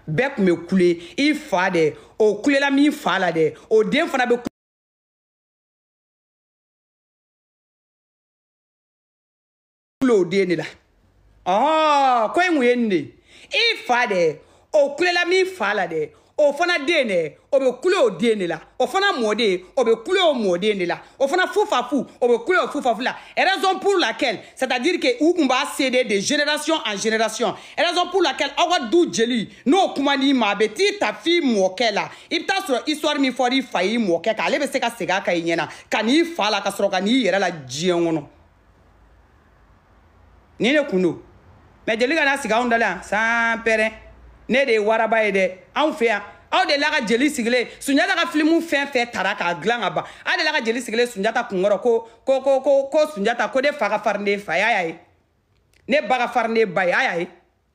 bɛɛ kun bɛ kule i fa dɛ o kulela min fa la dɛ o den fana bɛ kule o den de la ɔɔ ko in kun ye nin de i fa dɛ o kulela min fa la dɛ o fana den dɛ o bɛ kule o den de la o fana mɔden o bɛ kule o mɔden de la o fana fufafu o bɛ kule o fufafu la raison pour laquelle c'est à dire que u kun b'a céder de génération en génération raison pour laquelle aw ka du jeli n'o kumana i ma a bɛ t'i ta f'i mɔkɛ la i bɛ taa sɔrɔ histoire min fɔra i fa y'i mɔkɛ kan ale bɛ se ka segin a kan i ɲɛna ka n'i fa la ka sɔrɔ ka n'i yɛrɛ la diɲɛ kɔnɔ. ni ne kun don mais jeli kana sigi anw da la yan sanpɛrɛn ne de ye waraba ye dɛ anw fɛ yan aw de la ka jeli sigilen ye sunjata ka filimu fɛn fɛn tara k'a dilan ka ban aw de la ka jeli sigilen ye sunjata kunkɔrɔ ko ko ko ko ko sunjata ko ne fa ka farin ne fa y'a y'a ye ne ba ka farin ne ba ye a y'a ye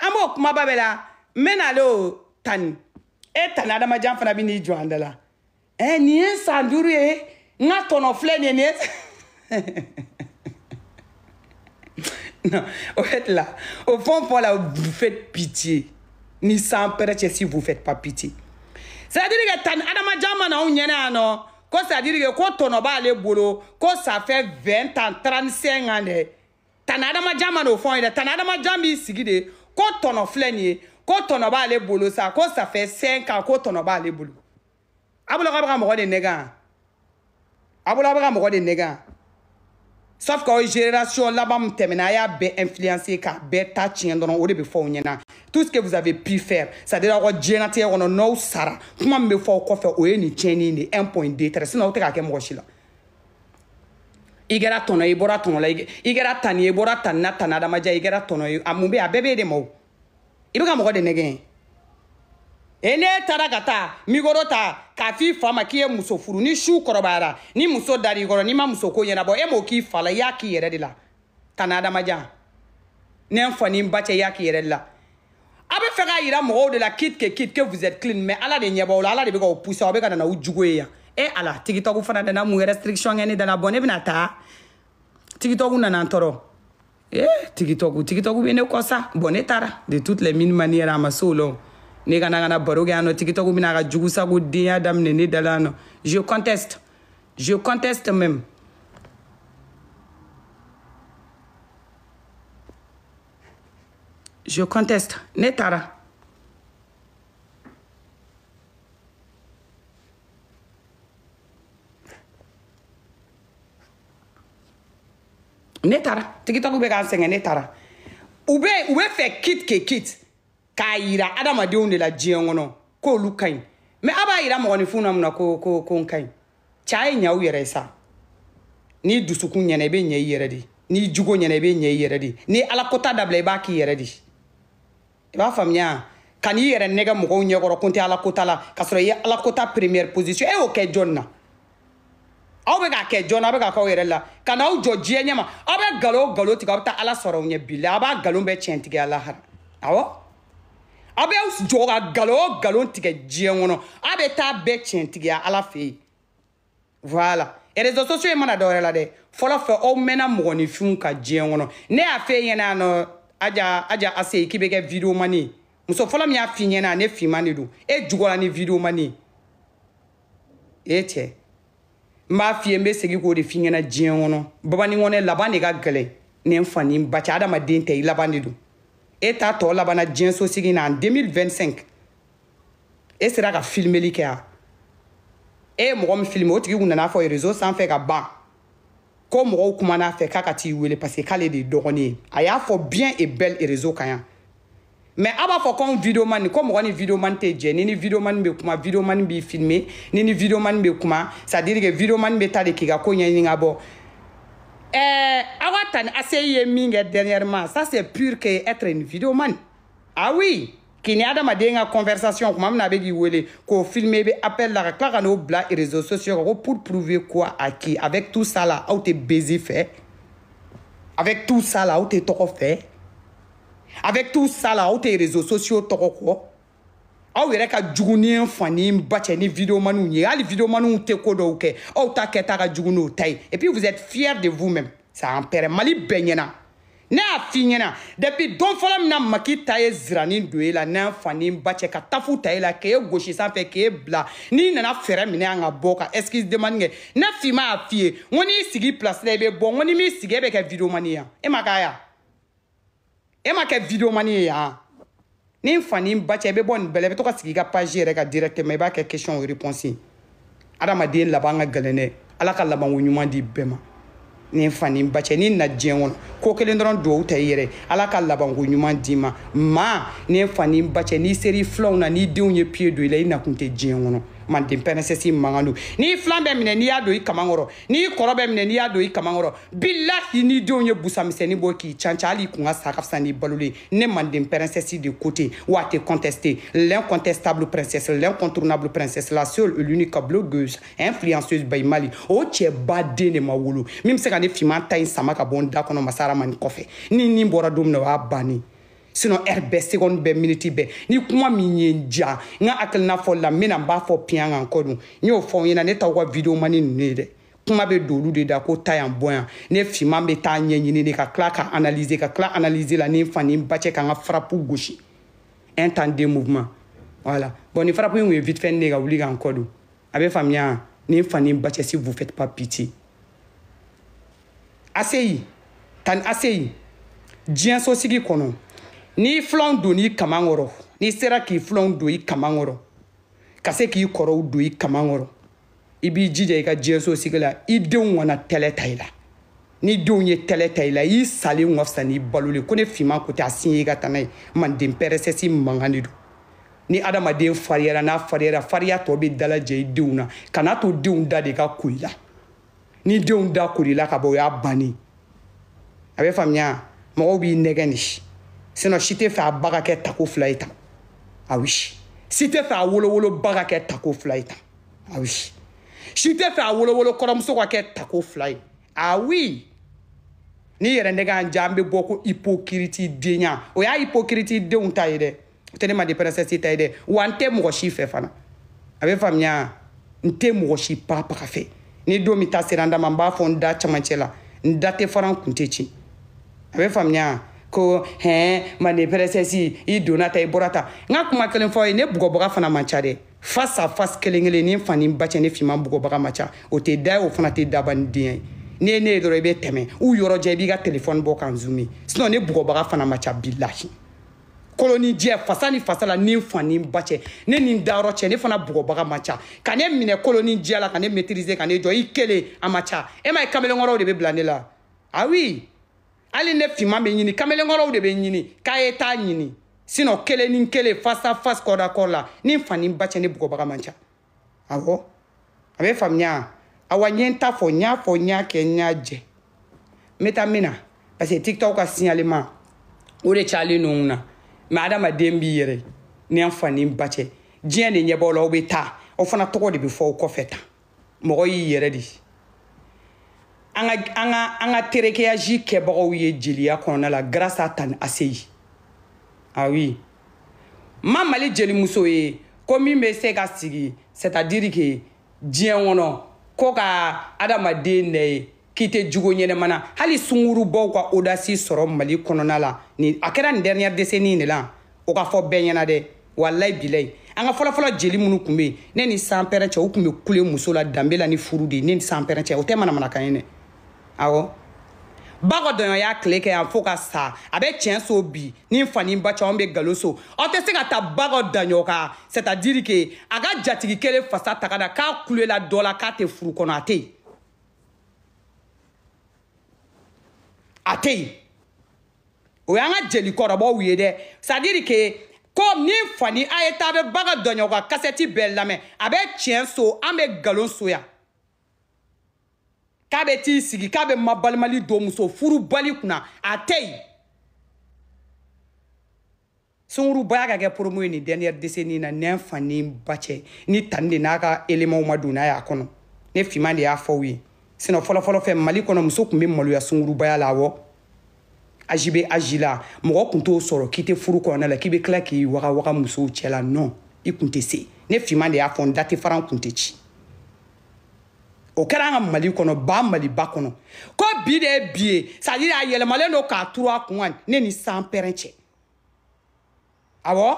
an b'o kumaba bɛ la n bɛ n'ale o tani e tani adamajan fana bɛ n'i jɔ an da la ɛ nin ye san duuru ye n ka tɔnɔ filɛ nin ye nin ye non au fait là au fond pour là vous faites pitié ni sanpɛrɛn si vous faites pas pitié c'est à dire que tani adamajan ma na anw ɲɛna yan nɔ ko c'est à dire que ko tɔnɔ b'ale bolo ko ça fait 20 ans 35 ans dɛ tani adamajan ma n'o fɔ ye dɛ tani adamajan b'i sigi de ko tɔnɔ filɛ nin ye ko tɔnɔ b'ale bolo sa ko ça fait 5 ans ko tɔnɔ b'ale bolo a bolo k'a bɛ ka mɔgɔ de nɛgɛn a bolo a bɛ ka mɔgɔ de nɛgɛn sauf que aw génération laban min tɛmɛna a y'a bɛɛ influencer k'a bɛɛ ta tiɲɛ dɔrɔn o de bɛ fɔ aw ɲɛna tout ce que vous avez pu faire c'est à dire aw ka diɲɛnatigɛ kɔnɔ n'aw sara kuma min bɛ fɔ aw kɔfɛ o ye nin tiɲɛni de un point deux traits sinon aw tɛ k'a kɛ mɔgɔ si la i kɛra tɔnɔ ye i bɔra tɔnɔ la i kɛra tani ye i bɔra tani na tani adamajan i kɛra tɔnɔ ye a mun bɛ a bɛɛ bɛ e de ma o i bɛ ka mɔgɔ de nɛgɛn e ne taara ka taa mikoro ta k'a f'i fa ma k'i ye muso furu ni su kɔrɔbayara ni muso dar'i kɔrɔ n'i ma muso ko ɲɛnabɔ e m'o k'i fa la i y'a k'i yɛrɛ de la tani adamajan ne n fa ni n ba cɛ i y'a k'i yɛrɛ de la a bɛ fɛ k'a yira mɔgɔw de la quitte que quitte que vous êtes clean mais ala de ɲɛ b'aw la ala de bɛ k'aw pousser aw bɛ ka na n'aw jugu ye yan e ala tikitɔku fana nana mun restriction kɛ ne da la bon ne bɛna taa tikitɔku nana n tɔɔrɔ e tikitɔku tikitɔku bɛ ne kɔ sa bon ne taara de toutes les mille manières a ma se o la o ne kana kana baro kɛ yan nɔ tikitɔku bɛna ka jugu sago denya daminɛ ne da la yan nɔ je conteste je conteste même je conteste ne taara ne taara tiktok bɛ k'an sɛgɛn ne taara u bɛ u bɛ fɛ coûte que coûte k'a yira adamadenw de la diɲɛ kɔnɔ k'olu ka ɲi mais a b'a yira mɔgɔninfin na mun na ko ko ko n ka ɲi cɛ ye ɲɛ aw yɛrɛ ye sa n'i dusukun ɲɛna i bɛ ɲɛ i yɛrɛ de n'i jogo ɲɛna i bɛ ɲɛ i yɛrɛ de n'i ala kota dabila i b'a k'i yɛrɛ de i b'a faamuya ka n'i yɛrɛ nɛgɛ mɔgɔw ɲɛkɔrɔ ko n tɛ ala kota la k'a sɔrɔ i ye ala kota première position e y'o kɛ jɔni na aw bɛ k'a kɛ jɔn aw bɛ k'a k'aw yɛrɛ la ka n'aw jɔ diɲɛ ɲɛma aw bɛ galon galon tigɛ aw bɛ taa ala sɔrɔ aw ɲɛ bila a b'a galon bɛɛ tiɲɛtigiya lahara awɔ aw bɛ jɔ ka nkalon o nkalon tigɛ diɲɛ kɔnɔ a bɛ taa bɛɛ tiɲɛtigiya ala fɛ yen voilà réseaux sociaux ye mana dɔwɛrɛ la dɛ fɔlɔ fɛ aw mɛnna mɔgɔninfinw ka diɲɛ kɔnɔ ne y'a f'i ɲɛna nɔ aja ase k'i bɛ kɛ videomani ye muso fɔlɔ min y'a f'i ɲɛna ne finman de don e jugɔla ni videomani ye e cɛ n b'a f'i ye n bɛ segin k'o de f'i ɲɛna diɲɛ kɔnɔ babani kɔnɛ laban de ka gɛlɛn ne n fa ni n ba cɛ adamaden tɛ i laban de dɔn e ta tɔ labanna diɲɛ so sigi na en 2025 e sera ka filimeli kɛ a e ye mɔgɔ min filime o tigi kun nana fɔ réseau sanfɛ ka ban ko mɔgɔw kumana a fɛ k'a ka t'i wele parce que k'ale de ye dɔgɔnin ye a y'a fɔ bien et belle réseau kan yan mais a b'a fɔ ko anw videomani ko mɔgɔ ni videomani tɛ jɛ ni ni videomani bɛ kuma videomani b'i filme ni ni videomani bɛ kuma c'est à dire que videomani bɛ taa de k'i ka ko ɲɛɲini ka bɔ ɛɛ aw ka tanti aseyi ye min kɛ dernièrement ça c'est pur que être une videomani ah oui k'i ni adamaden ka conversation kuma min na a bɛ k'i wele k'o filme i bɛ appel la ka tila ka n'o bila réseaux sociaux kan ko pour prouver quoi à qui avec tout ça là aw tɛ buzz fɛ avec tout ça là aw tɛ tɔgɔ fɛ avec tout ça là aw tɛ réseaux sociaux tɔgɔ kɔ aw yɛrɛ ka jugu ni n fa ni n ba cɛ ni videomaniw ye hali videomaniw tɛ ko dɔw kɛ aw ta kɛta ka jugu n'o ta ye et puis vous êtes fiers de vous même ça en pɛrɛ mali bɛɛ ɲɛna ne y'a f'i ɲɛna depuis don fɔlɔ min na maki ta ye ziranin don e la n'an fa ni ba cɛ ka tafu ta e la k'e gosi sanfɛ k'e bila n'i nana fɛɛrɛ minɛ an ka bɔ ka excuse demande kɛ ne finman y'a f'i ye n ko n'i sigi place la i bɛ bɔ n ko n'i m'i sigi e bɛ kɛ videomani ye yan e ma k'a ye yan e ma kɛ videomani ye yan ni fa ni ba cɛ i bɛ bɔ nin bɛɛ la i bɛ to ka sigi i ka page yɛrɛ kan directement i b'a kɛ question o réponse ye adamaden laban ka gɛlɛn dɛ ala ka labanko ɲuman di bɛɛ ma ni fa ni ba cɛ n'i na diɲɛ kɔnɔ ko kelen dɔrɔn duwawu ta i yɛrɛ ala ka labanko ɲuman d'i ma maa ni fa ni ba cɛ n'i sɛrɛ filanw na n'i denw ye pied don i la i nakun tɛ diɲɛ kɔnɔ manden princesse mankan don n'i filan bɛ minɛ n'i y'a don i kaman kɔrɔ n'i kɔrɔ bɛ minɛ n'i y'a don i kaman kɔrɔ bilahi n'i denw ye busa misɛnnin bɔ k'i canca hali i kun ka sa ka fisa n'i balolen ne manden princesse de côté wa tɛ contester l'incontestable princesse l'incontournable princesse la seule l'unique blogueuse influenceuse bayi mali o cɛba den de ma wolo min bɛ se ka ne finman ta in sama ka bɔ n da kɔnɔ Masa Rahamani kɔfɛ ni nin bɔra don min na o y'a bannen sinon heure bɛɛ seconde bɛɛ miniti bɛɛ ni kuma min ye n ja n ka hakilina fɔli la n bɛna n b'a fɔ piyan ka n kɔ don n y'o fɔ n ɲɛna ne t'aw ka video mani ninnu ye dɛ kuma bɛ don olu de da ko taa yan bɔ yan ne finman bɛ taa ɲɛɲini de ka tila ka analyser ka tila analyse la ni n fa ni n ba cɛ ka n ka frappe gosi un temps deux mouvements voilà bon nin frappe in tun ye vite fait ne ka wuli ka n kɔ don a bɛ faamuya ni n fa ni n ba cɛ si vous faites pas pitié aseyi tan aseyi diɲɛso sigi kɔnɔ n'i filanw don i kaman kɔrɔ n'i sera k'i filanw don i kaman kɔrɔ ka se k'i kɔrɔw don i kaman kɔrɔ i b'i jija i ka diɲɛso sigi la i denw kana tɛlɛ ta i la n'i denw ye tɛlɛ ta i la i salen ka fisa n'i balolen ko ne finman ko tɛ a sin ye i ka taa n'a ye manden princesse mankan de don ni adamaden fariyara n'a fariyara fariya tɔ bɛ dalajɛ i denw na kana to denw da de ka ko i la n'i denw da kor'i la ka bɔ o y'a bannen a bɛ faamuya mɔgɔw b'i nɛgɛn de sinon si tɛ fɛ a ba ka kɛ tako fila ye tan ah oui si tɛ fɛ a wolowolo ba ka kɛ tako fila ye tan ah oui si tɛ fɛ a wolowolo kɔrɔmuso ka kɛ tako fila ye ah oui n'i yɛrɛ nɛgɛn an ja an bɛ bɔ ko hypocrite denya o y'a hypocrite denw ta ye dɛ o tɛ ne manden princesse ta ye dɛ wa n tɛ mɔgɔ si fɛ fana a bɛ faamuya n tɛ mɔgɔ si pa paga fɛ ni don min ta sera n da ma n b'a fɔ n da camancɛ la n da tɛ fara n kun tɛ ci a bɛ faamuya ko hɛn manden princesse i donna tan i bɔra tan n ka kuma kelen fɔ i ye ne bugɔbaga fana man ca dɛ face à face kelen kelen ni n fa ni n ba cɛ ne finman bugɔbaga man ca o tɛ da ye o fana tɛ daba ni den ye n'i ye ne ye dɔrɔn i bɛ tɛmɛ u yɔrɔ jɛ i b'i ka telefɔni bɔ k'an zoomer sinon ne bugɔbaga fana man ca bilahi koloni jɛ fasa ni fasa la ni n fa ni n ba cɛ ne ni n dayɔrɔ cɛ ne fana bugɔbaga man ca ka ne minɛ koloni jɛ la ka ne maîtriser ka ne jɔ i kelen a man ca e ma ye kamalenkɔrɔw de bɛ bila ne la ah oui hali ne finman bɛ ɲini kamalenkɔrɔw de bɛ ɲini k'a ye t'a ɲini sinon kelen ni kelen face à face corps à corps la ni n fa ni n ba cɛ ne bugɔbaga man ca awɔ a bɛ faamuya awa n ye n ta fɔ n y'a fɔ n y'a kɛ n y'a jɛ n bɛ taa min na parce que tiktok ka signalement o de cayalen don n na mais adamaden b'i yɛrɛ ni n fa ni n ba cɛ diɲɛ de ɲɛ b'aw la aw bɛ taa aw fana tɔgɔ de bɛ fɔ aw kɔfɛ tan mɔgɔ y'i yɛrɛ de an ka terekeyaji kɛbagaw ye jeliya kɔnɔna la grâce à Tani Aseyi ah oui ma Mali jelimuso ye ko min bɛ se ka sigi c'est à dire que diɲɛ kɔnɔ ko ka adamaden nɛ ye k'i tɛ jogo ɲɛnama na hali sungurubaw ka audace sɔrɔ mali kɔnɔna la ni a kɛra nin dernière décennie in de la o ka fɔ bɛɛ ɲɛ na dɛ walayi bilayi an ka fɔlɔfɔlɔ jeli minnu tun bɛ yen ne ni sanpɛrɛn cɛ u tun bɛ kule muso la danbe la ni furu de ye ne ni sanpɛrɛn cɛ o tɛ manamanakan ye dɛ awɔ bako daɲɔn y'a tile kɛ yan fo ka sa a bɛ tiɲɛ so bi ni n fa ni n ba cɛ an bɛ nkalon so aw tɛ se ka ta bako daɲɔn kan c'est à dire que a ka jatigi kelen fasa taga da k'a kulela dɔ la k'a tɛ furu kɔnɔ a tɛ yen a tɛ yen o y'an ka jelikɔrɔbaw ye dɛ c'est à dire que ko ni n fa ni a ye taa bɛ bako daɲɔn ka kasɛti bɛɛ lamɛn a bɛ tiɲɛ so an bɛ nkalon so yan k'a bɛ t'i sigi k'a bɛ mabalimali don muso furubali kunna a tɛ yen sungurubaya ka kɛ promo ye nin dernière décennie na ne n fa ni n ba cɛ ni tani de n'a ka éléments ma don n'a y'a kɔnɔ ne finman de y'a fɔ aw ye sinon fɔlɔfɔlɔ fɛ mali kɔnɔ muso tun bɛ maloya sungurubaya la awɔ aji bɛ aji la mɔgɔ kun t'o sɔrɔ k'i tɛ furu kɔnɔna la k'i bɛ tila k'i waga waga musow cɛ la non i kun tɛ se ne finman de y'a fɔ n da tɛ fara n kun tɛ ci o kɛra an ka mali kɔnɔ ba maliba kɔnɔ ko bi de ye bi ye c'est à dire a yɛlɛmalen don k'a turu a kun kan ne ni sanpɛrɛn cɛ awɔ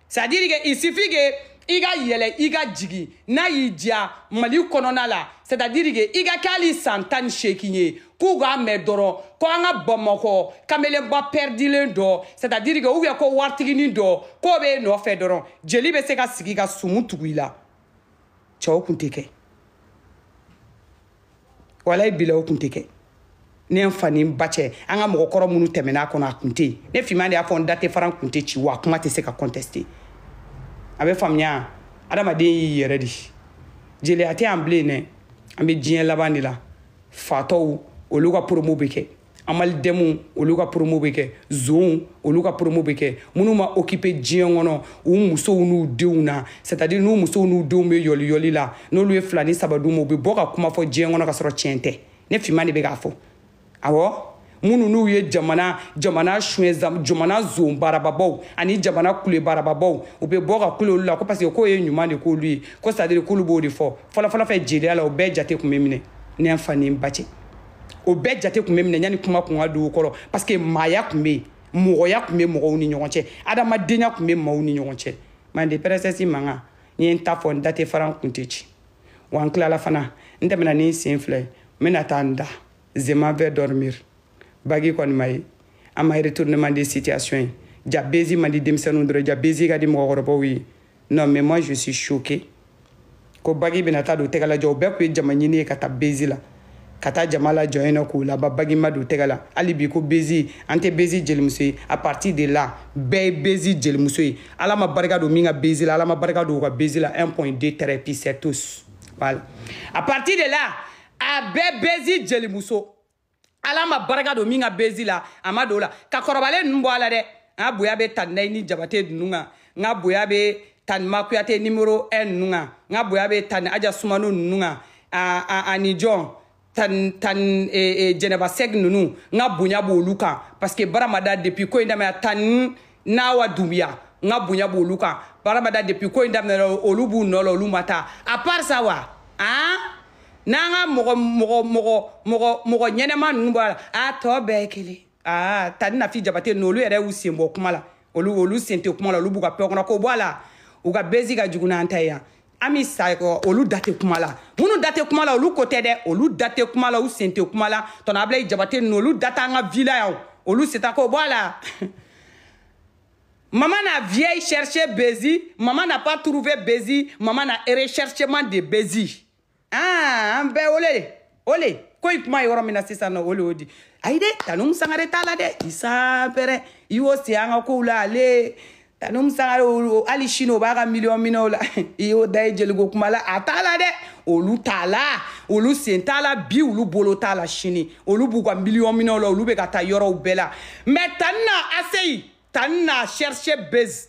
c'est à dire que il suffit que i ka yɛlɛ i ka jigin n'a y'i diya mali kɔnɔna la c'est à dire que i ka kɛ hali san tan ni seegin ye k'u k'a mɛn dɔrɔn ko an ka bamakɔ kamelenba pɛridilen dɔ c'est à dire que ou bien ko waritiginin dɔ k'o bɛ e nɔfɛ dɔrɔn jeli bɛ se ka sigi ka sumu tugu i la cɛ o kun tɛ kɛ walayi bila o kun tɛ kɛ ne n fa ni n ba cɛ an ka mɔgɔkɔrɔ minnu tɛmɛna a kɔnɔ a kun tɛ yen ne finman de y'a fɔ n da tɛ fara n kun tɛ ci wa a kuma tɛ se ka contester a bɛ faamuya adamaden y'i yɛrɛ de jeliya tɛ yan bilen dɛ an bɛ diɲɛ laban de la fatɔw olu ka promo bɛ kɛ amaldeme olu ka promo bɛ kɛ zonw olu ka promo bɛ kɛ minnu ma occuper diɲɛ kɔnɔ u musow n'u denw na c'est à dire n'u musow n'u denw bɛ yɔliyɔli la n'olu ye fila ni saba d'u ma u bɛ bɔ ka kuma fɔ diɲɛ kɔnɔ ka sɔrɔ tiɲɛ tɛ ne finman de bɛ k'a fɔ awɔ minnu n'u ye jamana jamana suɲɛ jamana zon baarababaw ani jamana kule baarababaw u bɛ bɔ ka kule olu la ko parce que k'o ye ɲuman de k'olu ye ko c'est à dire k'olu b'o de fɔ fɔlɔfɔlɔ fɛ jeliya la o bɛɛ jate kun bɛ minɛ ne n fa ni n ba cɛ o bɛɛ jate kun bɛ minɛ yanni kuma kun ka don kɔrɔ parce que maaya kun bɛ yen mɔgɔya kun bɛ mɔgɔw ni ɲɔgɔn cɛ adamadenya kun bɛ maaw ni ɲɔgɔn cɛ mande princesse mankan n ye n ta fɔ n da tɛ fara n kun tɛ ci wa n tilala fana n tɛmɛna ni n sen fila ye n bɛna taa n da je m'en vais dormir bagi kɔni ma ye an ma retournement de situation ye ja bezi man di denmisɛnninw dɔrɔn ja bezi ka di mɔgɔkɔrɔbaw ye non mais moi je suis choqué ko bagi bɛna taa don tɛgɛ la jɔ o bɛɛ kun ye jama ɲini ye ka taa bezi la ka taa jama lajɔ yen nɔ k'u laba bagi ma don tɛgɛ la hali bi ko bezi an tɛ bezi jelimuso ye à partir de là bɛɛ ye bezi jelimuso ye ala ma barika don min ka bezi la ala ma barika don u ka bezi la 1 point 2 traits puis c'est tout voilà à partir de là a bɛɛ bezi jelimuso ala ma barika don min ka bezi la a ma don o la ka kɔrɔbalen ninnu bɔ a la dɛ n ka bonya bɛ tani nayini jabate ninnu kan n ka bonya bɛ tani ma kuyate numéro un ninnu kan n ka bonya bɛ tani aja sumano ninnu kan ani jɔn tan tan e, e, jɛnɛba sɛgi ninnu n ka bonya b'olu kan parce que baramada depuis ko in daminɛ tan nawa dunbiya n ka bonya b'olu kan barabada depuis ko in daminɛra olu b'u nɔ la olu ma taa à part ça wa han n'an ka mɔgɔ mɔgɔ mɔgɔ mɔgɔ mɔgɔ ɲɛnama ninnu bɔ a la a tɔ bɛɛ ye kelen aa tani nafi jabate ninnu olu yɛrɛ y'u sen bɔ kuma la olu olu sen tɛ kuma la olu b'u ka paix kɔnɔ k'o bɔ a la u ka bezi ka jugu n'an ta ye yan an bɛ sa olu da tɛ kuma la minnu da tɛ kuma la olu ko tɛ dɛ olu da tɛ kuma la u sen tɛ kuma la tonton abulayi jabate ninnu olu da t'an ka vie la yan olu sen ta k'o bɔ a la Maman a vieille cherché Bézi, maman n'a pas trouvé Bézi, maman a recherchement de Bézi. aa an bɛɛ ole de ole ko i kuma yɔrɔ min na sisan nɔ ole o di ayi dɛ tan umu sangare t'a la dɛ isa pɛrɛ i y'o se an ka kow la ale tan umu sangare hali sini o b'a ka miliyɔn minɛw la i y'o da ye jeliko kuma la a t'a la dɛ olu t'a la olu sen t'a la bi olu bolo t'a la sini olu b'u ka miliyɔn minɛw la olu bɛ ka taa yɔrɔw bɛɛ la mais tani na essayé tani na cherché bezi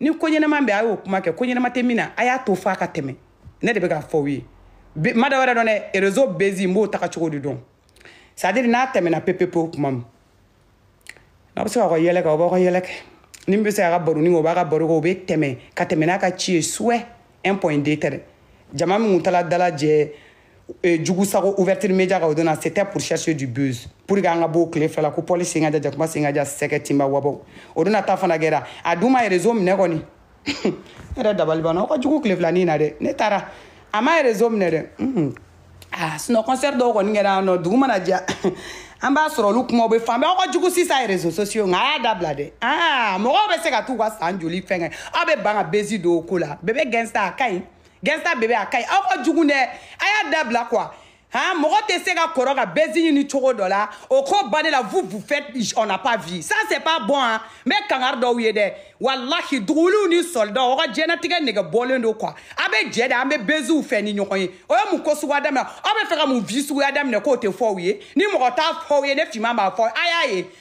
ni ko ɲɛnama bɛ a y'o kuma kɛ ko ɲɛnama tɛ min na a y'a to f'a ka tɛmɛ ne de bɛ k'a fɔ aw ye n ma da wɛrɛ dɔn dɛ réseau bezi n b'o taga cogo de dɔn c'est-à-dire n'a tɛmɛna pepepewu kuma min n'a bɛ se k'aw ka yɛlɛ kɛ aw b'aw ka yɛlɛ kɛ ni min bɛ se k'a ka baroni kɛ o b'a ka baro kɛ o bɛ tɛmɛ ka tɛmɛ n'a ka ci ye suwɛ un point deux traits jama min tun taala dalajɛ eh, jugu sago ouverture média ka o donna c'était pour chercher du buzz pour que an ka b'o tile fila la ko pɔli sen ka ja jakuma sen ka ja sɛgɛ tinba wabaw o donna ta fana kɛra a dun ma ye réseau minɛ kɔni ne yɛrɛ dabali banna aw ka jugu tile fila in na dɛ ne taara a ma ye réseau minɛ dɛ mhm. ah sinon concert dɔw kɔni kɛra yan nɔ dugu mana jɛ an b'a sɔrɔ olu kumaw bɛ fan bɛɛ aw ka jugu sisan ye réseaux sociaux nka a y'a dabila dɛ aa mɔgɔw bɛ se ka t'u ka san joli fɛn kɛ aw bɛ ban ka bezi don o ko la bebe gɛnsa a ka ɲi gɛnsa bebe a ka ɲi aw ka jugu dɛ a y'a dabila quoi han mɔgɔ tɛ se ka kɔrɔ ka bezi ɲini cogo dɔ la o ko bannen là vous vous faites on n'a pas vu ça c'est pas bon hein n bɛ kangari d'aw ye dɛ walahi duguwuliw ni sɔlidaw aw ka diɲɛnatigɛ nɛgɛ bɔlen don quoi a bɛ jɛ de an bɛ beziw fɛ ni ɲɔgɔn ye aw ye mun ko suguya daminɛ aw bɛ fɛ ka mun vie suguya daminɛ k'o tɛ fɔ aw ye ni mɔgɔ t'a fɔ aw ye ne finman b'a fɔ aw ye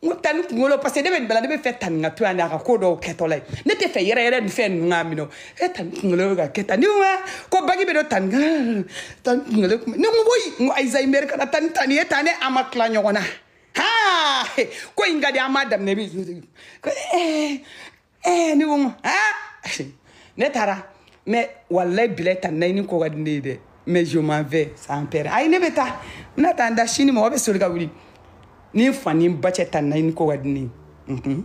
n ko tani kunkolo parce que ne bɛ nin bɛɛ la ne b'a fɛ tani ka to yan de a ka ko dɔw kɛtɔla ye ne t'a fɛ yɛrɛyɛrɛ ni fɛn ninnu k'a minɛ e tani kunkolo bɛ ka kɛ tan ni wa ko bagi bɛ don tani tani kunkolo kun ne ko woyi n ko ayisa i mɛri kana tani tani ye tan ne an ma tila ɲɔgɔn na haa ko in ka di an m'a daminɛ bi ko ee ɛɛ ne ko n ko aa ne taara mais walayi bilayi taa naɲini ko ka di ne ye dɛ mais je m'en vais sans père ayi ne bɛ taa n bɛna taa n da sini mɔgɔ bɛ soli ka wuli ni n fa ni n ba cɛ taa naɲini ko ka di ne ye